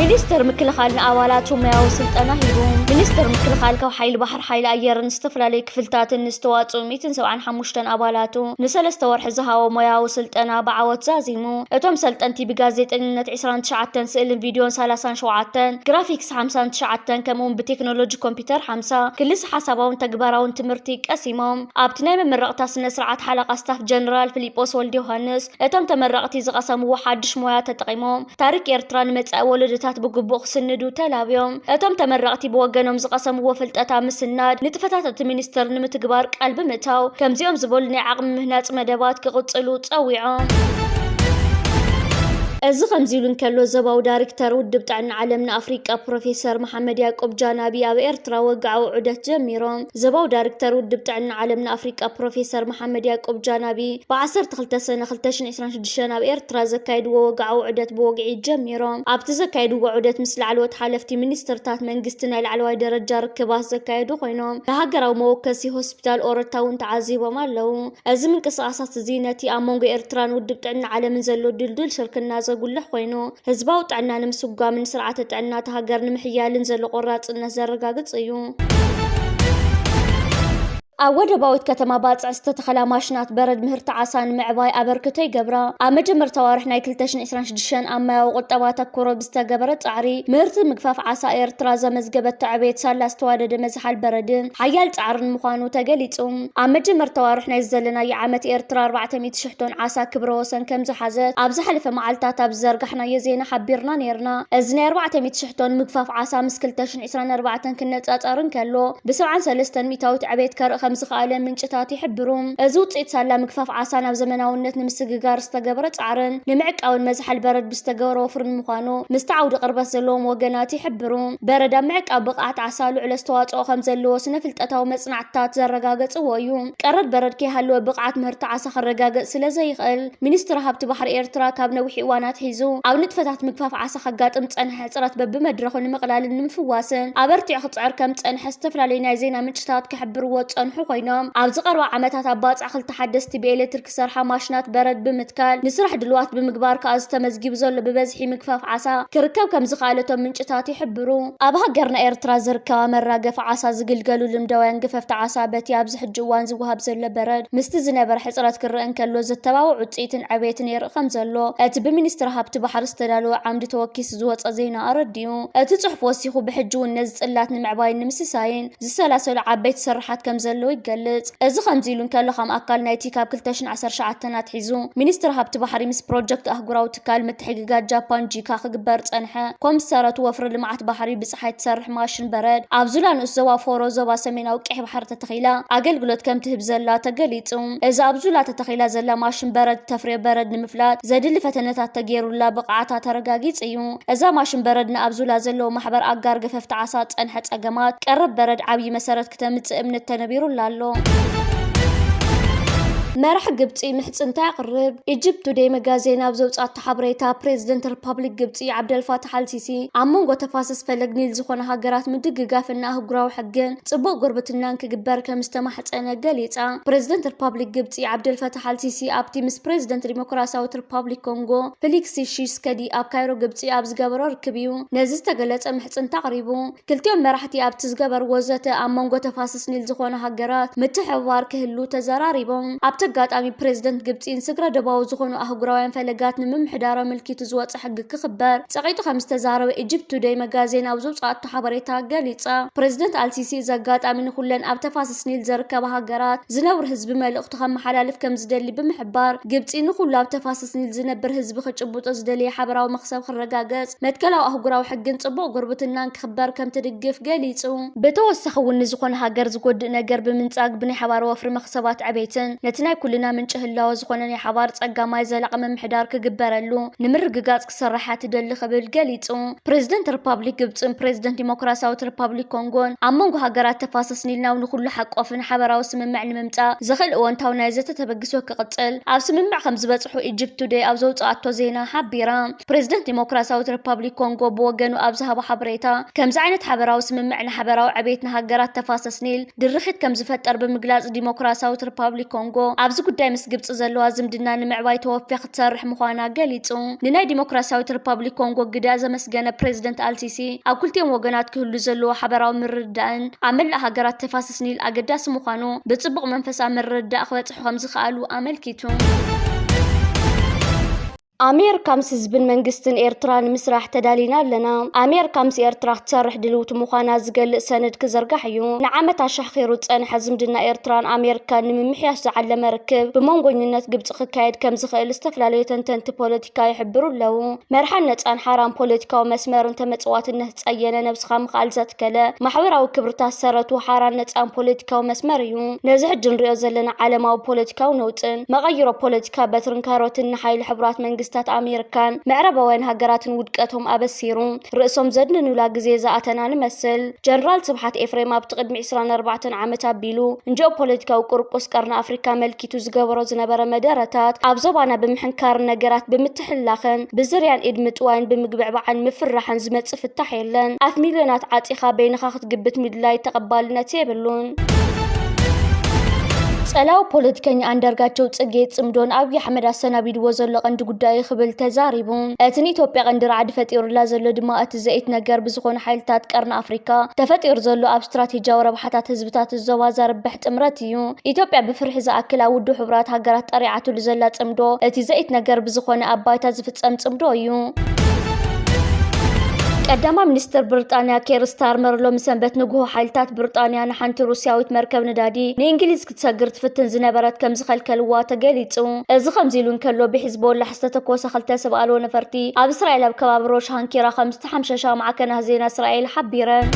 ሚኒስትር ምክልኻል ንኣባላቱ ሙያዊ ስልጠና ሂቡ። ሚኒስትር ምክልኻል ካብ ሓይሊ ባሕሪ፣ ሓይሊ ኣየርን ዝተፈላለዩ ክፍልታትን ዝተዋፅኡ 175 ኣባላቱ ንሰለስተ ወርሒ ዝሃቦ ሙያዊ ስልጠና ብዓወት ዛዚሙ። እቶም ሰልጠንቲ ብጋዜጠኝነት 29 ስእልን ቪድዮን 37 ግራፊክስ ሓምሳን ትሽዓተን ከምኡውን ብቴክኖሎጂ ኮምፒተር ሓምሳ ክልሰ ሓሳባውን ተግባራውን ትምህርቲ ቀሲሞም። ኣብቲ ናይ መመረቕታ ስነ ስርዓት ሓለቓ ስታፍ ጀነራል ፍሊጶስ ወልደዮሃንስ እቶም ተመረቕቲ ዝቐሰምዎ ሓድሽ ሞያ ተጠቒሞም ታሪክ ኤርትራ ንመጻኢ ወለዶታት ብግቡእ ክስንዱ ተላብዮም። እቶም ተመረቕቲ ብወገኖም ዝቐሰምዎ ፍልጠት ኣብ ምስናድ ንጥፈታት እቲ ሚኒስትር ንምትግባር ቃል ብምእታው ከምዚኦም ዝበሉ ናይ ዓቕሚ ምህናጽ መደባት ክቕጽሉ ጸዊዖም። እዚ ከምዚ ኢሉ እንከሎ ዞባዊ ዳሪክተር ውድብ ጥዕና ዓለም ንኣፍሪቃ ፕሮፌሰር መሓመድ ያቆብ ጃናቢ ኣብ ኤርትራ ወግዓዊ ዑደት ጀሚሮም። ዞባዊ ዳሪክተር ውድብ ጥዕና ዓለም ንኣፍሪቃ ፕሮፌሰር መሓመድ ያቆብ ጃናቢ ብ ዓሰርተ ክልተ ሰነ ክልተ ሽሕ ዕስራን ሽዱሽተን ኣብ ኤርትራ ዘካየድዎ ወግዓዊ ዑደት ብወግዒ ጀሚሮም። ኣብቲ ዘካየድዎ ዑደት ምስ ላዕለዎት ሓለፍቲ ሚኒስትርታት መንግስቲ ናይ ላዕለዋይ ደረጃ ርክባት ዘካየዱ ኮይኖም ንሃገራዊ መወከሲ ሆስፒታል ኦረታ እውን ተዓዚቦም ኣለዉ። እዚ ምንቅስቓሳት እዚ ነቲ ኣብ መንጎ ኤርትራን ውድብ ጥዕና ዓለምን ዘሎ ድልዱል ሽርክና ዘጉልሕ ኮይኑ፣ ህዝባዊ ጥዕና ንምስጓምን ስርዓተ ጥዕና እታ ሃገር ንምሕያልን ዘሎ ቆራፅነት ዘረጋግፅ እዩ። ኣብ ወደባዊት ከተማ ባፅዕ ዝተተኸላ ማሽናት በረድ ምህርቲ ዓሳ ንምዕባይ ኣበርክቶ ይገብራ። ኣብ መጀመርታ ኣዋርሕ ናይ 2026 ኣብ ማያዊ ቁጠባ ኣተኩሮ ብዝተገበረ ፃዕሪ ምህርቲ ምግፋፍ ዓሳ ኤርትራ ዘመዝገበቶ ዕብየት ሳላ ዝተዋደደ መዝሓል በረድን ሓያል ፃዕርን ምዃኑ ተገሊፁ። ኣብ መጀመርታ ኣዋርሕ ናይ ዘለናዮ ዓመት ኤርትራ 400 ቶን ዓሳ ክብረ ወሰን ከምዝሓዘት ኣብ ዝሓለፈ መዓልታት ኣብ ዝዘርጋሕናዮ ዜና ሓቢርና ነይርና። እዚ ናይ ኣርባዕተ ሚእቲ ሽሕ ቶን ምግፋፍ ዓሳ ምስ ክልተ ሽሕን ዕስራን ኣርባዕተን ክነጻጸር እንከሎ ብሰብዓን ሰለስተን ሚእታዊት ዕቤት ከርኢ ከምዝኸኣለ ምንጭታት ይሕብሩ። እዚ ውጽኢት ሳላ ምግፋፍ ዓሳ ናብ ዘመናውነት ንምስግጋር ዝተገብረ ጻዕርን ንምዕቃብን መዝሓል በረድ ብዝተገብረ ወፍሪ ንምዃኑ ምስቲ ዓውዲ ቅርበት ዘለዎም ወገናት ይሕብሩ። በረድ ኣብ ምዕቃብ ብቕዓት ዓሳ ልዑል ኣስተዋጽኦ ከምዘለዎ ስነ-ፍልጠታዊ መጽናዕትታት ዘረጋገጽዎ እዩ። ቀረብ በረድ ከይሃለወ ብቕዓት ምህርቲ ዓሳ ክረጋገጽ ስለ ዘይኽእል፣ ሚኒስትሪ ሃብቲ ባሕሪ ኤርትራ ካብ ነዊሕ እዋን ኣትሒዙ ኣብ ንጥፈታት ምግፋፍ ዓሳ ከጋጥም ዝጸንሐ ሕጽረት በብመድረኹ ንምቕላልን ንምፍዋስን ኣበርቲዑ ክጽዕር ከም ዝጸንሐ ዝተፈላለዩ ናይ ዜና ምንጭታት ክሕብርዎ ዝጸንሑ ኮይኖም፣ ኣብዚ ቀረባ ዓመታት ኣብ ባጽዕ ክልተ ሓደስቲ ብኤሌትሪክ ክሰርሓ ማሽናት በረድ ብምትካል ንስራሕ ድልዋት ብምግባር ከኣ ዝተመዝጊቡ ዘሎ ብበዝሒ ምግፋፍ ዓሳ ክርከብ ከምዝኸኣለ እቶም ምንጭታት ይሕብሩ። ኣብ ሃገርና ኤርትራ ዝርከባ መራገፊ ዓሳ ዝግልገሉ ልምዳውያን ገፈፍቲ ዓሳ በቲ ኣብዚ ሕጂ እዋን ዝወሃብ ዘሎ በረድ ምስቲ ዝነበረ ሕጽረት ክረኣ እንከሎ ዘተባብዕ ውጽኢትን ዕቤትን የርኢ ከምዘሎ እቲ ብሚኒስትሪ ሃብቲ ባሕሪ ዝተዳለወ ዓምዲ ተወኪሱ ዝወጸ ዜና ኣረዲኡ። እቲ ጽሑፍ ወሲኹ ብሕጂ'ውን ነዚ ጽላት ንምዕባይን ንምስሳይን ዝሰላሰሉ ዓበይቲ ስርሓት ከምዘለዉ ይገልጽ። እዚ ከምዚ ኢሉ እንከሎ ከም ኣካል ናይቲ ካብ ክልተ ሽሕን ዓሰርተ ትሽዓተን ኣትሒዙ ሚኒስትሪ ሃብቲ ባሕሪ ምስ ፕሮጀክት ኣህጉራዊ ትካል ምትሕግጋዝ ጃፓን ጂካ ክግበር ዝጸንሐ ኮምሰረቱ ወፍሪ ልምዓት ባሕሪ ብጸሓይ ትሰርሕ ማሽን በረድ ኣብ ዙላ ንኡስ ዞባ ፎሮ ዞባ ሰሜናዊ ቀይሕ ባሕሪ ተተኺላ ኣገልግሎት ከምትህብ ዘላ ተገሊጹ። እዛ ኣብ ዙላ ተተኺላ ዘላ ማሽን በረድ እተፍርዮ በረድ ንምፍላጥ ዘድሊ ፈተነታት ተገይሩላ ብቕዓታ ተረጋጊጹ እዩ። እዛ ማሽን በረድ ንኣብ ዙላ ዘለዉ ማሕበር ኣጋር ገፈፍቲ ዓሳ ዝጸንሐ ጸገማት ቀረብ በረድ ዓብዪ መሰረት ክተምጽእ እምነት ተነቢሩላ ኣሎ። መራሒ ግብፂ ምሕፅንታ የቕርብ። ኢጅፕት ቱዴይ መጋዜን ኣብ ዘውፅኣቶ ሓበሬታ ፕሬዚደንት ሪፐብሊክ ግብፂ ዓብደልፋታሕ ኣልሲሲ ኣብ መንጎ ተፋሰስ ፈለግ ኒል ዝኾነ ሃገራት ምድግጋፍና ኣህጉራዊ ሕግን ፅቡቕ ጉርብትናን ክግበር ከም ዝተማሕፀነ ገሊፃ። ፕሬዚደንት ሪፐብሊክ ግብፂ ዓብደልፈታሕ ኣልሲሲ ኣብቲ ምስ ፕሬዚደንት ዲሞክራሲያዊት ሪፐብሊክ ኮንጎ ፊሊክስ ሺስከዲ ኣብ ካይሮ ግብጺ ኣብ ዝገበሮ ርክብ'ዩ ነዚ ዝተገለጸ ምሕጽንታ ኣቕሪቡ። ክልቲኦም መራሕቲ ኣብቲ ዝገበርዎ ዘተ ኣብ መንጎ ተፋሰስ ኒል ዝኾና ሃገራት ምትሕብባር ክህሉ ተዘራሪቦም። ኣብቲ ኣጋጣሚ ፕረዚደንት ግብጺ ንስግረ-ዶባዊ ዝኾኑ ኣህጉራውያን ፈለጋት ንምምሕዳር ኣመልኪቱ ዝወጸ ሕጊ ክኽበር ጸቒጡ ከምዝተዛረበ ኢጅፕት ቱደይ መጋዜን ኣብ ዘውጽኣቶ ሓበሬታ ገሊጻ። ፕረዚደንት ኣልሲሲ እዚ ኣጋጣሚ ንኹለን ኣብ ተፋሰስ ኒል ዘርከባ ሃገራት ዝነብሩ ህዝቢ መልእኽቱ ከመሓላልፍ ከምዝደሊ ብምሕባር ግብጺ ንኹሉ ኣብ ተፋሰስ ኒል ዝነብር ህዝቢ ክጭብጦ ዝደለየ ሓበራዊ መኽሰብ ክረጋገጽ፣ መትከላዊ ኣህጉራዊ ሕግን ጽቡቕ ጉርብትናን ክኽበር ከም ትድግፍ ገሊጹ። ብተወሳኺ እውን ንዝኾነ ሃገር ዝጎድእ ነገር ብምንጻግ ብናይ ሓባር ወፍሪ መኽሰባት ዕቤትን ነቲ ናይ ኩልና ምንጪ ህላወ ዝኾነ ናይ ሓባር ጸጋ ማይ ዘላቒ ምምሕዳር ክግበረሉ ንምርግጋጽ ክስራሕ እያ ትደሊ ክብል ገሊጹ። ፕረዚደንት ርፓብሊክ ግብጽን ፕረዚደንት ዲሞክራሲያዊት ርፓብሊክ ኮንጎን ኣብ መንጎ ሃገራት ተፋሰስ ኒል ናብ ንኩሉ ሓቆፍን ሓበራዊ ስምምዕ ንምምጻእ ዘኽእል እወንታዊ ናይ ዘተ ተበግሶ ሪሶ ክቕጽል ኣብ ስምምዕ ከምዝበጽሑ ኢጅፕት ቱደይ ኣብ ዘውጽኣቶ ዜና ሓቢራ። ፕረዚደንት ዲሞክራስያዊት ሪፓብሊክ ኮንጎ ብወገኑ ኣብ ዝሃቦ ሓበሬታ፣ ከምዚ ዓይነት ሓበራዊ ስምምዕ ንሓበራዊ ዕቤት ንሃገራት ተፋሰስ ኒል ድርኺት ከምዝፈጠር ብምግላጽ፣ ዲሞክራስያዊት ሪፓብሊክ ኮንጎ ኣብዚ ጉዳይ ምስ ግብጺ ዘለዋ ዝምድና ንምዕባይ ተወፊያ ክትሰርሕ ምዃና ገሊጹ። ንናይ ዲሞክራስያዊት ሪፓብሊክ ኮንጎ ግደ ዘመስገነ ፕረዚደንት ኣልሲሲ፣ ኣብ ክልቲኦም ወገናት ክህሉ ዘለዎ ሓበራዊ ምርድዳእን ኣብ መላእ ሃገራት ተፋሰስ ስኒል ኣገዳሲ ምዃኑ ብጽቡቕ መንፈሳዊ ምርድዳእ ክበጽሑ ከም ዝኸኣሉ ኣመልኪቱ። ኣሜሪካ ምስ ህዝብን መንግስትን ኤርትራ ንምስራሕ ተዳሊና ኣለና ኣሜሪካ ምስ ኤርትራ ክትሰርሕ ድልውቲ ምዃና ዝገልጽ ሰነድ ክዝርጋሕ እዩ ንዓመት ኣሻኺሩ ዝጸንሐ ዝምድና ኤርትራን ኣሜሪካን ንምምሕያሽ ዝዓለመ ርክብ ብመንጎኝነት ግብፂ ክካየድ ከም ዝኽእል ዝተፈላለዩ ተንተንቲ ፖለቲካ ይሕብሩ ኣለዉ መርሓን ነፃን ሓራን ፖለቲካዊ መስመርን ተመጽዋትነት ጸየነ ነብስኻ ምኽኣል ዘትከለ ማሕበራዊ ክብርታት ሰረቱ ሓራን ነጻን ፖለቲካዊ መስመር እዩ። ነዚ ሕጂ ንሪኦ ዘለና ዓለማዊ ፖለቲካዊ ነውጽን መቐይሮ ፖለቲካ በትርን ካሮትን ንሓይሊ ሕቡራት መንግስታት ኣሜርካን ምዕራባውያን ሃገራትን ውድቀቶም ኣበሲሩ ርእሶም ዘድንኑላ ግዜ ዝኣተና ንመስል። ጀነራል ስብሓት ኤፍሬም ኣብቲ ቅድሚ ዕስራን ኣርባዕተን ዓመት ኣቢሉ ንጂኦፖለቲካዊ ቁርቁስ ቀርኒ ኣፍሪካ መልኪ ኢቱ ዝገበሮ ዝነበረ መደረታት ኣብ ዞባና ብምሕንካርን ነገራት ብምትሕልላኽን ብዝርያን ኢድ ምጥዋይን ብምግብዕባዕን ምፍርራሕን ዝመጽእ ፍታሕ የለን። ኣፍ ሚልዮናት ዓጺኻ በይንኻ ክትግብት ምድላይ ተቐባልነት የብሉን። ጸላዊ ፖለቲከኛ ኣንዳርጋቸው ጽጌ ጽምዶ ንኣብይ ኣሕመድ ኣሰናቢድዎ ዘሎ ቀንዲ ጉዳይ'ዩ ክብል ተዛሪቡ። እቲ ንኢትዮጵያ ቀንዲ ራዕዲ ፈጢሩላ ዘሎ ድማ እቲ ዘኢትነገር ብዝኾኑ ሓይልታት ቀርኒ ኣፍሪካ ተፈጢሩ ዘሎ ኣብ ስትራቴጂያዊ ረብሓታት ህዝብታት እዚ ዞባ ዘርብሕ ጥምረት'ዩ። እዩ። ኢትዮጵያ ብፍርሒ ዝኣክል ኣብ ውድብ ሕቡራት ሃገራት ጠሪዓትሉ ዘላ ጽምዶ፣ እቲ ዘኢትነገር ብዝኾነ ኣብ ባይታ ዝፍጸም ጽምዶ እዩ። ቀዳማ ሚኒስትር ብርጣንያ ኬር ስታርመር ሎሚ ሰንበት ንግሆ ሓይልታት ብርጣንያ ንሓንቲ ሩስያዊት መርከብ ነዳዲ ንእንግሊዝ ክትሰግር ትፍትን ዝነበረት ከም ዝኸልከልዋ ተገሊጹ። እዚ ከምዚ ኢሉ እንከሎ ብሒዝቦላሕ ዝተተኮሰ ክልተ ሰብ ኣልቦ ነፈርቲ ኣብ እስራኤል ኣብ ከባቢ ሮሽ ሃንኪራ ከም ተሓምሸሻ ማዕከናት ዜና እስራኤል ሓቢረን።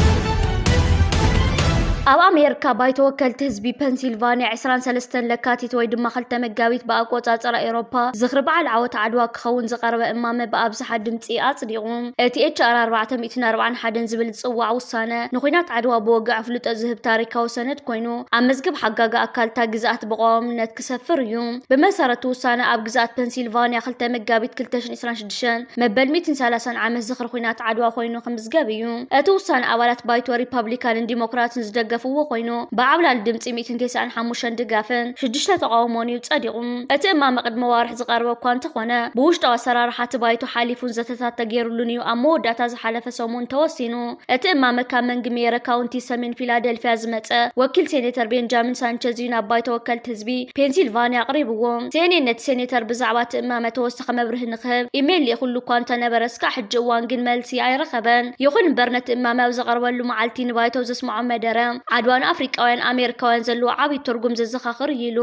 ኣብ ኣሜሪካ ባይቶ ወከልቲ ህዝቢ ፐንሲልቫንያ 23 ለካቲት ወይ ድማ 2 መጋቢት ብኣቆፃፅራ ኤሮፓ ዝኽሪ በዓል ዓወት ዓድዋ ክኸውን ዝቐረበ እማመ ብኣብዝሓ ድምፂ ኣፅዲቑ። እቲ ኤችኣር 441 ዝብል ዝፅዋዕ ውሳነ ንኩናት ዓድዋ ብወግዒ ኣፍልጦ ዝህብ ታሪካዊ ሰነድ ኮይኑ ኣብ መዝገብ ሓጋጋ ኣካል እታ ግዝኣት ብቐዋምነት ክሰፍር እዩ። ብመሰረቱ ውሳነ ኣብ ግዝኣት ፐንሲልቫንያ 2 መጋቢት ዕስራን ሽዱሽተን መበል ሚእትን ሰላሳን ዓመት ዝኽሪ ኹናት ዓድዋ ኮይኑ ክምዝገብ እዩ። እቲ ውሳነ ኣባላት ባይቶ ሪፓብሊካንን ዲሞክራትን ዝደገፍዎ ኮይኑ ብዓብላሊ ድምፂ ሚእትን ተስዓን ሓሙሽተን ድጋፍን ሽዱሽተ ተቓውሞን እዩ ፀዲቑ። እቲ እማመ ቅድሚ ኣዋርሕ ዝቐረበ እኳ እንተኾነ ብውሽጣዊ ኣሰራርሓ እቲ ባይቶ ሓሊፉን ዘተታት ተገይሩሉን እዩ ኣብ መወዳእታ ዝሓለፈ ሰሙን ተወሲኑ። እቲ እማመ ካብ መንግ ሜየረ ካውንቲ ሰሜን ፊላደልፊያ ዝመፀ ወኪል ሴኔተር ቤንጃሚን ሳንቸዝ እዩ ናብ ባይቶ ወከልቲ ህዝቢ ፔንሲልቫኒያ ኣቕሪብዎ። ሴኔን ነቲ ሴኔተር ብዛዕባ እቲ እማመ ተወሳኺ ተወሳኺ መብርሂ ንኽህብ ኢሜይል ልኢኹሉ እኳ እንተነበረ እስካዕ ሕጂ እዋን ግን መልሲ ኣይረኸበን። ይኹን እምበር ነቲ እማመ ኣብ ዘቐርበሉ መዓልቲ ንባይቶ ዘስመዖ መደረ፣ ዓድዋ ንኣፍሪቃውያን ኣሜሪካውያን ዘለዎ ዓብዪ ትርጉም ዘዘኻኽር እዩ ኢሉ።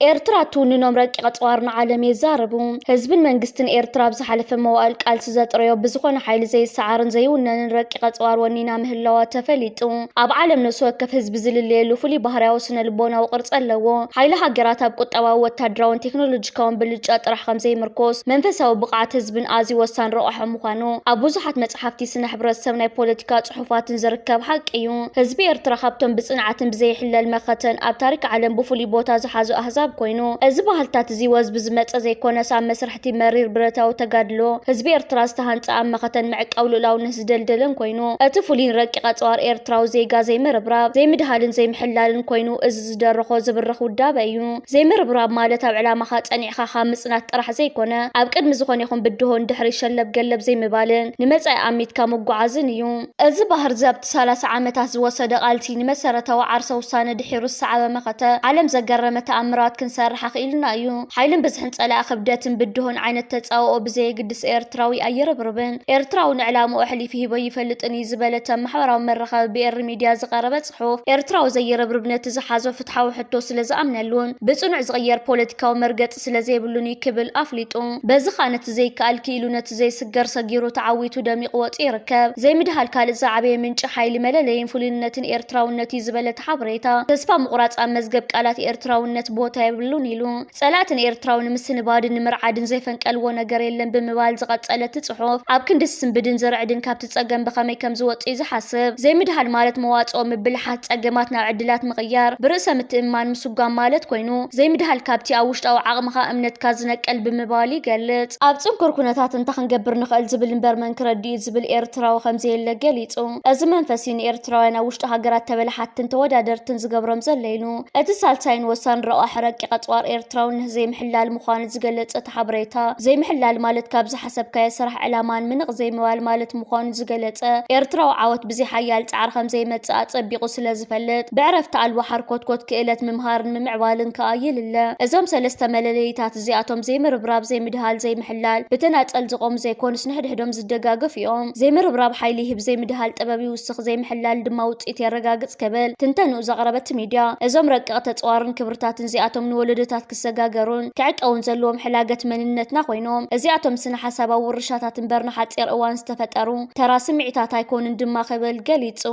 ኤርትራ ትውንኖም ረቂቐ ጸዋር ንዓለም የዛረቡ። ህዝብን መንግስትን ኤርትራ ኣብ ዝሓለፈ መዋእል ቃልሲ ዘጥረዮ ብዝኾነ ሓይሊ ዘይሰዓርን ዘይውነንን ረቂቕ ቀጽዋር ወኒና ምህላዋ ተፈሊጡ። ኣብ ዓለም ነፍሲ ወከፍ ህዝቢ ዝልለየሉ ፍሉይ ባህርያዊ ስነ ልቦናዊ ቅርጺ ኣለዎ። ሓይሊ ሃገራት ኣብ ቁጠባዊ፣ ወታደራውን ቴክኖሎጂካውን ብልጫ ጥራሕ ከም ዘይምርኮስ፣ መንፈሳዊ ብቕዓት ህዝብን ኣዝዩ ወሳኒ ረቛሒ ምዃኑ ኣብ ብዙሓት መጽሓፍቲ ስነ ሕብረተሰብ ናይ ፖለቲካ ጽሑፋትን ዝርከብ ሓቂ እዩ። ህዝቢ ኤርትራ ካብቶም ብጽንዓትን ብዘይሕለል መኸተን ኣብ ታሪክ ዓለም ብፍሉይ ቦታ ዝሓዙ ኣህዛብ ኮይኑ፣ እዚ ባህልታት'ዚ ወዝቢ ዝመጸ ዘይኮነስ ኣብ መስርሕ እቲ መሪር ብረታዊ ተጋድሎ ህዝቢ ኤርትራ ዝተሃንጸ ኣብ መኸተን ምዕቃብ ልኡላውነት ዝደልደለን ኮይኑ፣ እቲ ፍሉይን ረቂቕ ኣጽዋር ኤርትራዊ ዜጋ ዘይምርብራብ፣ ዘይምድሃልን ዘይምሕላልን ኮይኑ እዚ ዝደረኾ ዝብርኽ ውዳበ እዩ። ዘይምርብራብ ማለት ኣብ ዕላማኻ ጸኒዕካ ካብ ምጽናት ጥራሕ ዘይኮነ፣ ኣብ ቅድሚ ዝኾነ ይኹን ብድሆ ንድሕሪት ሸለብ ገለብ ዘይምባልን ንመጻኢ ኣሚትካ ምጉዓዝን እዩ። እዚ ባህር ዘብጥ ሰላሳ ዓመታት ዝወሰደ ቃልሲ ንመሰረታዊ ዓርሰ ውሳነ ድሒሩ ዝሰዓበ መኸተ፣ ዓለም ዘገረመ ተኣምራት ክንሰርሕ ኣኽኢሉና እዩ። ሓይልን ብዝሕን ጸላኢ ክብደትን ብድሆን ዓይነት ተጻብኦ ብዘየግድስ ኤርትራዊ ኣይርብርብን፣ ኤርትራዊ ንዕላምኡ ኣሕሊፊ ሂቦ ኣይፈልጥን እዩ ዝበለ እተብ ማሕበራዊ መራኸቢ ብኤሪ ሚድያ ዝቐረበ ጽሑፍ፣ ኤርትራዊ ዘይርብርብ ነቲ ዝሓዞ ፍትሓዊ ሕቶ ስለዝኣምነሉን ብጽኑዕ ዝቕየር ፖለቲካዊ መርገጺ ስለ ዘይብሉን'ዩ ክብል ኣፍሊጡ። በዚ ከኣ ነቲ ዘይከኣል ክኢሉ ነቲ ዘይስገር ሰጊሩ ተዓዊቱ ደሚቑ ወጺኡ ይርከብ። ዘይምድሃል ካልእ ዝዓበየ ምንጪ ሓይሊ፣ መለለዪን ፍሉይንነትን ኤርትራውነት'ዩ ዝበለ እቲ ሓበሬታ፣ ተስፋ ምቑራጽ ኣብ መዝገብ ቃላት ኤርትራውነት ቦታ የብሉን ኢሉ። ጸላእቲ ንኤርትራዊ ንምስንባድን ንምርዓድን ዘይፈንቀልዎ ነገር የለን ብምባል ዝቐጸለ እቲ ጽሑፍ፣ ኣብ ክንዲ ዝስንብድን ዝርዕድን ካብቲ እቲ ጸገም ብኸመይ ከም ዝወጽእ'ዩ ዝሓስብ። ዘይምድሃል ማለት መዋጽኦ ምብልሓት፣ ጸገማት ናብ ዕድላት ምቕያር፣ ብርእሰ ምትእምማን ምስጓም ማለት ኮይኑ፣ ዘይምድሃል ካብቲ ኣብ ውሽጣዊ ዓቕምኻ፣ እምነትካ፣ ዝነቅል ብምባል ይገልጽ። ኣብ ጽንኩር ኩነታት እንታይ ክንገብር ንኽእል ዝብል እምበር መን ክረድእ'ዩ ዝብል ኤርትራዊ ከም ዘየለ ገሊጹ። እዚ መንፈስ'ዩ ንኤርትራውያን ኣብ ውሽጢ ሃገራት ተበላሓትትን ተወዳደርትን ዝገብሮም ዘሎ ኢሉ። እቲ ሳልሳይን ወሳኒ ረቋሒ ረቂቕ ኣጽዋር ኤርትራውነት ዘይምሕላል ምዃኑ ዝገለጸ እቲ ሓበሬታ፣ ዘይምሕላል ማለት ካብ ዝሓሰብካዮ ስራሕ ዕላማ ንምንቕ ዘይምባል ማለት ምዃኑ ዝገለጸ ኤርትራዊ ዓወት ብዘይ ሓያል ጻዕሪ ከም ዘይመጽእ ኣጸቢቑ ስለ ዝፈልጥ ብዕረፍቲ ኣልቦ ሓርኮትኮት ክእለት ምምሃርን ምምዕባልን ከኣ የልለ። እዞም ሰለስተ መለለዪታት እዚኣቶም ዘይምርብራብ፣ ዘይምድሃል፣ ዘይምሕላል ብተናጸል ዝቖሙ ዘይኮኑስ ንሕድሕዶም ዝደጋገፉ እዮም። ዘይምርብራብ ሓይሊ ይህብ፣ ዘይምድሃል ጥበብ ይውስኽ፣ ዘይምሕላል ድማ ውጽኢት የረጋግጽ ክብል ትንተንኡ ዘቕረበ'ቲ ሚድያ እዞም ረቂቕ ተጽዋርን ክብርታትን እዚኣቶም ንወለዶታት ክሰጋገሩን ክዕቀቡን ዘለዎም ሕላገት መንነትና ኮይኖም፣ እዚኣቶም ስነ-ሓሳባዊ ውርሻታት እምበር ንሓጺር እዋን ዝተፈጠሩ ተራ ስምዒታት ኣይኮኑን ድማ ክብል ገሊጹ።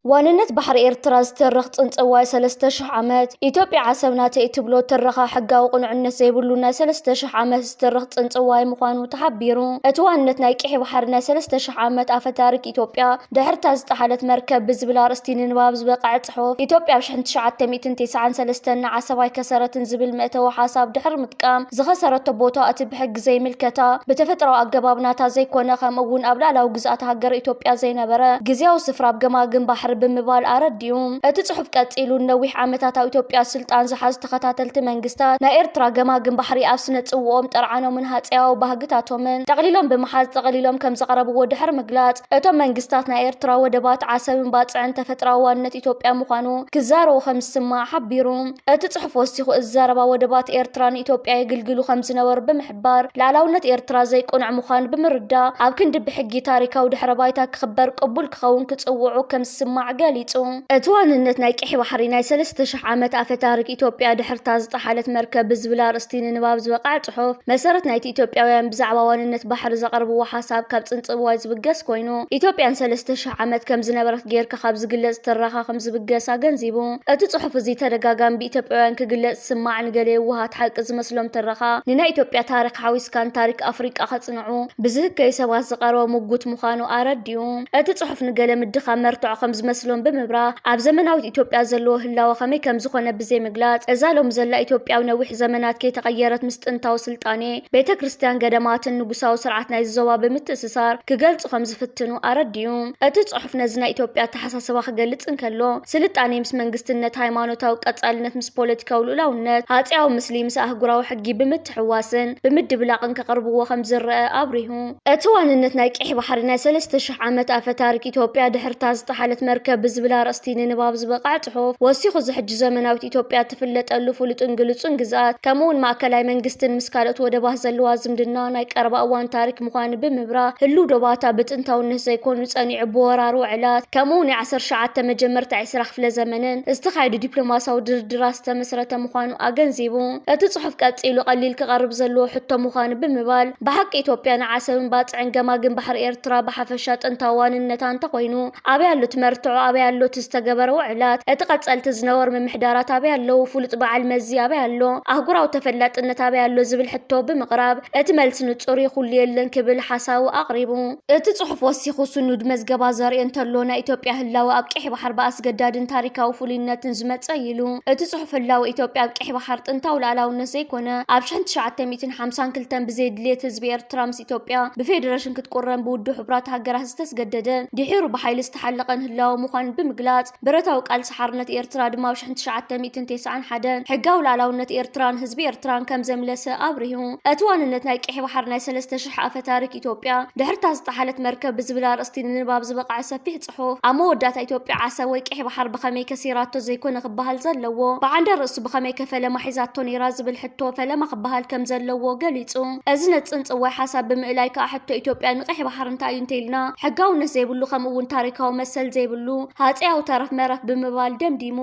ዋንነት ባሕሪ ኤርትራ ዝተርኽ ጽንጽዋይ ሰለስተ ሽሕ ዓመት ኢትዮጵያ ዓሰብ ናተይ እትብሎ ትረኻ ሕጋዊ ቅኑዕነት ዘይብሉ ናይ ሰለስተ ሽሕ ዓመት ዝተርኽ ጽንጽዋይ ምዃኑ ተሓቢሩ። እቲ ዋንነት ናይ ቂሒ ባሕሪ ናይ ሰለስተ ሽሕ ዓመት ኣፈታሪክ ኢትዮጵያ ድሕርታ ዝጠሓለት መርከብ ብዝብል ኣርእስቲ ንንባብ ዝበቕዐ ጽሑፍ ኢትዮጵያ ኣብ ሽሕን ትሽዓተ ሚእትን ቴስዓን ሰለስተን ንዓሰብ ኣይከሰረትን ዝብል መእተዊ ሓሳብ ድሕሪ ምጥቃም፣ ዝኸሰረቶ ቦታ እቲ ብሕጊ ዘይምልከታ፣ ብተፈጥራዊ ኣገባብ ናታ ዘይኮነ፣ ከምኡ'ውን ኣብ ልኣላዊ ግዝኣተ ሃገረ ኢትዮጵያ ዘይነበረ ግዝያዊ ስፍራ ኣብ ገማግም ባሕሪ ብምባል ኣረዲኡ። እቲ ጽሑፍ ቀጺሉ፣ ንነዊሕ ዓመታት ኣብ ኢትዮጵያ ስልጣን ዝሓዙ ተኸታተልቲ መንግስታት ናይ ኤርትራ፣ ገማግም ባሕሪ ኣብ ስነ-ጽውኦም፣ ጥርዓኖምን ሃጸያዊ ባህግታቶምን ጠቕሊሎም ብምሓዝ ጠቕሊሎም ከም ዘቕረብዎ ድሕሪ ምግላጽ፣ እቶም መንግስታት ናይ ኤርትራ ወደባት ዓሰብን ባጽዕን ተፈጥራዊ ዋንነት ኢትዮጵያ ምዃኑ ክዛረቡ ከምዝስማዕ ሓቢሩ። እቲ ጽሑፍ ወሲኹ እዚ ዘረባ ወደባት ኤርትራ ንኢትዮጵያ የግልግሉ ከምዝነበሩ ብምሕባር ልኣላውነት ኤርትራ ዘይቅኑዕ ምዃኑ ብምርዳእ ኣብ ክንዲ ብሕጊ ታሪካዊ ድሕረ ባይታ ክኽበር ቅቡል ክኸውን ክጽውዑ ከምዝስማዕ ገሊጹ። እቲ ዋንነት ናይ ቀይሕ ባሕሪ ናይ ሰለስተ ሽሕ ዓመት ኣፈ ታሪክ ኢትዮጵያ ድሕርታ ዝጠሓለት መርከብ ብዝብል ኣርእስቲ ንንባብ ዝበቕዐ ጽሑፍ መሰረት ናይቲ ኢትዮጵያውያን ብዛዕባ ዋንነት ባሕሪ ዘቕርብዎ ሓሳብ ካብ ጽንጽብዋይ ዝብገስ ኮይኑ፣ ኢትዮጵያ ንሰለስተ ሽሕ ዓመት ከም ዝነበረት ገይርካ ካብ ዝግለጽ ትረኻ ከም ዝብገስ ኣገንዚቡ። እቲ ጽሑፍ እዚ ተደጋጋሚ ብኢትዮጵያውያን ክግለጽ ዝስማዕ ንገለ የዋሃት ሓቂ ዝመስሎም ትረኻ ንናይ ኢትዮጵያ ታሪኽ ሓዊስካ ንታሪክ ኣፍሪቃ ከጽንዑ ብዝህከዩ ሰባት ዝቐረበ ሙጉት ምዃኑ ኣረዲኡ። እቲ ጽሑፍ ንገለ ምድኻም መርትዖ ከም ዝመስሎም ብምብራህ ኣብ ዘመናዊት ኢትዮጵያ ዘለዎ ህላወ ከመይ ከም ዝኾነ ብዘይምግላጽ እዛ ሎሚ ዘላ ኢትዮጵያ ኣብ ነዊሕ ዘመናት ከይተቐየረት ምስ ጥንታዊ ስልጣኔ ቤተ ክርስቲያን፣ ገዳማትን ንጉሳዊ ስርዓት ናይዚ ዞባ ብምትእስሳር ክገልጹ ከም ዝፍትኑ ኣረዲኡ። እቲ ጽሑፍ ነዚ ናይ ኢትዮጵያ ኣተሓሳስባ ክገልጽ እንከሎ፣ ስልጣኔ ምስ መንግስትነት፣ ሃይማኖታዊ ቀጻልነት ምስ ፖለቲካዊ ልኡላውነት፣ ሃጺያዊ ምስሊ ምስ ኣህጉራዊ ሕጊ ብምትሕውዋስን ብምድብላቕን ከቕርብዎ ከም ዝረኣ ኣብሪሁ። እቲ ዋንነት ናይ ቂሕ ባሕሪ ናይ ሰለስተ ሽሕ ዓመት ኣፈ ታሪክ ኢትዮጵያ ድሕርታ ዝጠሓለት መርከብ ብዝብል ኣርእስቲ ንንባብ ዝበቕዐ ጽሑፍ ወሲኹ እዚ ሕጂ ዘመናዊት ኢትዮጵያ እትፍለጠሉ ፍሉጥን ግሉጹን ግዝኣት ከምኡውን ማእከላይ መንግስትን ምስ ካልኦት ወደባት ዘለዋ ዝምድና ናይ ቀረባ እዋን ታሪክ ምዃኑ ብምብራህ ህሉው ዶባታ ብጥንታውነት ዘይኮኑ ጸኒዑ ብወራር ውዕላት ከምኡውን ናይ ዓሰርተ ትሽዓተ መጀመርታ ዕስራ ክፍለ ዘመንን ዝተኻየዱ ዲፕሎማሲያዊ ድርድራት ዝተመስረተ ምዃኑ ኣገንዚቡ እቲ ጽሑፍ ቀጺሉ ቀሊል ክቐርብ ዘለዎ ሕቶ ምዃኑ ብምባል ብሓቂ ኢትዮጵያ ንዓሰብን ባጽዕን ገማግም ባሕሪ ኤርትራ ብሓፈሻ ጥንታዊ ዋንነታ እንተኾይኑ ኣበይ ኣሎ እቲ መርትዖ ኣበይ ኣሎ እቲ ዝተገበረ ውዕላት እቲ ቀጸልቲ ዝነበሩ ምምሕዳራት ኣበይ ኣለዉ ፍሉጥ በዓል መዚ ኣበይ ኣሎ ኣህጉራዊ ተፈላጥነት ኣበይ ኣሎ ዝብል ሕቶ ብምቕራብ እቲ መልሲ ንጹር እዩ ኩሉ የለን ክብል ሓሳቡ ኣቕሪቡ። እቲ ጽሑፍ ወሲኹ ስኑድ መዝገባ ዘርኢ እንተሎ ናይ ኢትዮጵያ ህላወ ኣብ ቀይሕ ባሕር ብኣስገዳድን ታሪካዊ ፍሉይነትን ዝመጸ እዩ ኢሉ። እቲ ጽሑፍ ህላወ ኢትዮጵያ ኣብ ቀይሕ ባሕር ጥንታዊ ልኣላውነት ዘይኮነ ኣብ ሽሕን ትሽዓተ ሚእቲ ሚእትን ሓምሳን ክልተን ብዘይ ድልየት ህዝቢ ኤርትራ ምስ ኢትዮጵያ ብፌደረሽን ክትቁረን ብውድብ ሕቡራት ሃገራት ዝተስገደደን ድሒሩ ብሓይሊ ዝተሓለቐን ህላወ ምዃኑ ብምግላጽ ብረታዊ ቃልሲ ሓርነት ኤርትራ ድማ ኣብ ሽሕን ትሽዓተ ሚእትን ቴስዓን ሓደን ሕጋዊ ልኣላውነት ኤርትራን ህዝቢ ኤርትራን ከም ዘምለሰ ኣብሪሁ። እቲ ዋንነት ናይ ቀይሕ ባሕሪ ናይ ሰለስተ ሽሕ ኣፈ ታሪክ ኢትዮጵያ ድሕርታ ዝጠሓለት መርከብ ብዝብል ኣርእስቲ ንንባብ ዝበቕዐ ሰፊሕ ይበጽሑ። ኣብ መወዳእታ ኢትዮጵያ ዓሰብ ወይ ቀይሕ ባሕር ብኸመይ ከሲራቶ ዘይኮነ ክበሃል ዘለዎ፣ ብዓንደ ርእሱ ብኸመይከ ፈለማ ሒዛቶ ነይራ ዝብል ሕቶ ፈለማ ክበሃል ከም ዘለዎ ገሊጹ። እዚ ነቲ ጽንጽዋይ ሓሳብ ብምእላይ ከኣ ሕቶ ኢትዮጵያ ንቀይሕ ባሕር እንታይ እዩ እንተኢልና ሕጋውነት ዘይብሉ ከምኡ'ውን ታሪካዊ መሰል ዘይብሉ ሃጸያዊ ተረፍ መረፍ ብምባል ደምዲሙ።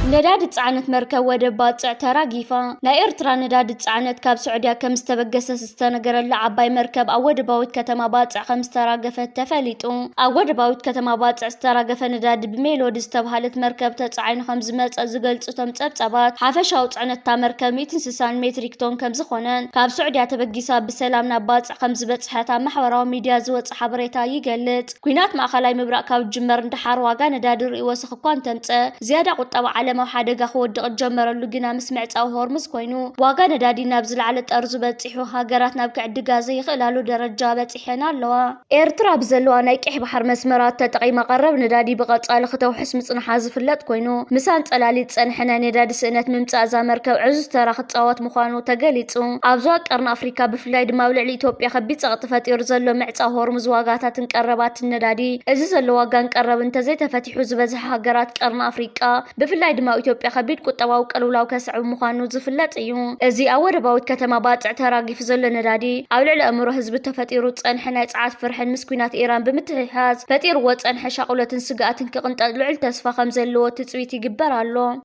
ነዳዲ ዝጸዓነት መርከብ ወደብ ባጽዕ ተራጊፋ። ናይ ኤርትራ ነዳዲ ዝጸዓነት ካብ ስዑድያ ከም ዝተበገሰ ዝተነገረላ ዓባይ መርከብ ኣብ ወደባዊት ከተማ ባጽዕ ከም ዝተራገፈት ተፈሊጡ። ኣብ ወደባዊት ከተማ ባጽዕ ዝተራገፈ ነዳዲ ብሜሎዲ ዝተብሃለት መርከብ ተጻዒኑ ከም ዝመጸ ዝገልጹ እቶም ጸብጻባት፣ ሓፈሻዊ ጽዕነት እታ መርከብ ሚእቲ እንስሳን ሜትሪክ ቶን ከም ዝኾነን ካብ ስዑድያ ተበጊሳ ብሰላም ናብ ባጽዕ ከም ዝበጽሐት ኣብ ማሕበራዊ ሚድያ ዝወጸ ሓበሬታ ይገልጽ። ኲናት ማእከላይ ምብራቕ ካብ ዝጅመር ንደሓር ዋጋ ነዳዲ ርእይ ወሰኽ እኳ እንተምጸእ፣ ዝያዳ ቁጠባ ዓለም ኣብ ሓደጋ ክወድቕ ዝጀመረሉ ግና ምስ ምዕጻው ሆርሙዝ ኮይኑ፣ ዋጋ ነዳዲ ናብ ዝለዓለ ጠርዙ በጺሑ፣ ሃገራት ናብ ክዕድጋ ዘይኽእላሉ ደረጃ በጺሐን ኣለዋ። ኤርትራ ብዘለዋ ናይ ቀይሕ ባሕሪ መስመራት ተጠቒማ ቀረብ ነዳዲ ብቐጻሊ ክተውሕስ ምጽንሓ ዝፍለጥ ኮይኑ፣ ምስ ኣንጸላልዩ ዝጸንሐ ናይ ነዳዲ ስእነት ምምጻእ እዛ መርከብ ዕዙዝ ተራ ክትጻወት ምዃኑ ተገሊጹ። ኣብ ዞባ ቀርኒ ኣፍሪካ ብፍላይ ድማ ኣብ ልዕሊ ኢትዮጵያ ከቢድ ፀቕጢ ፈጢሩ ዘሎ ምዕፃው ሆርሙዝ ዋጋታትን ቀረባትን ነዳዲ እዚ ዘሎ ዋጋን ቀረብ እንተዘይተፈቲሑ ዝበዝሐ ሃገራት ቀርኒ ኣፍሪቃ ብፍላይ ድማ ኣብ ኢትዮጵያ ከቢድ ቁጠባዊ ቅልውላው ከስዕብ ምዃኑ ዝፍለጥ እዩ። እዚ ኣብ ወደባዊት ከተማ ባጽዕ ተራጊፉ ዘሎ ነዳዲ ኣብ ልዕሊ ኣእምሮ ህዝቢ ተፈጢሩ ዝጸንሐ ናይ ጽዓት ፍርሕን ምስ ኲናት ኢራን ብምትሕሓዝ ፈጢርዎ ዝጸንሐ ሻቕሎትን ስግኣትን ክቕንጠጥ ልዑል ተስፋ ከምዘለዎ ትጽቢት ይግበር ኣሎ።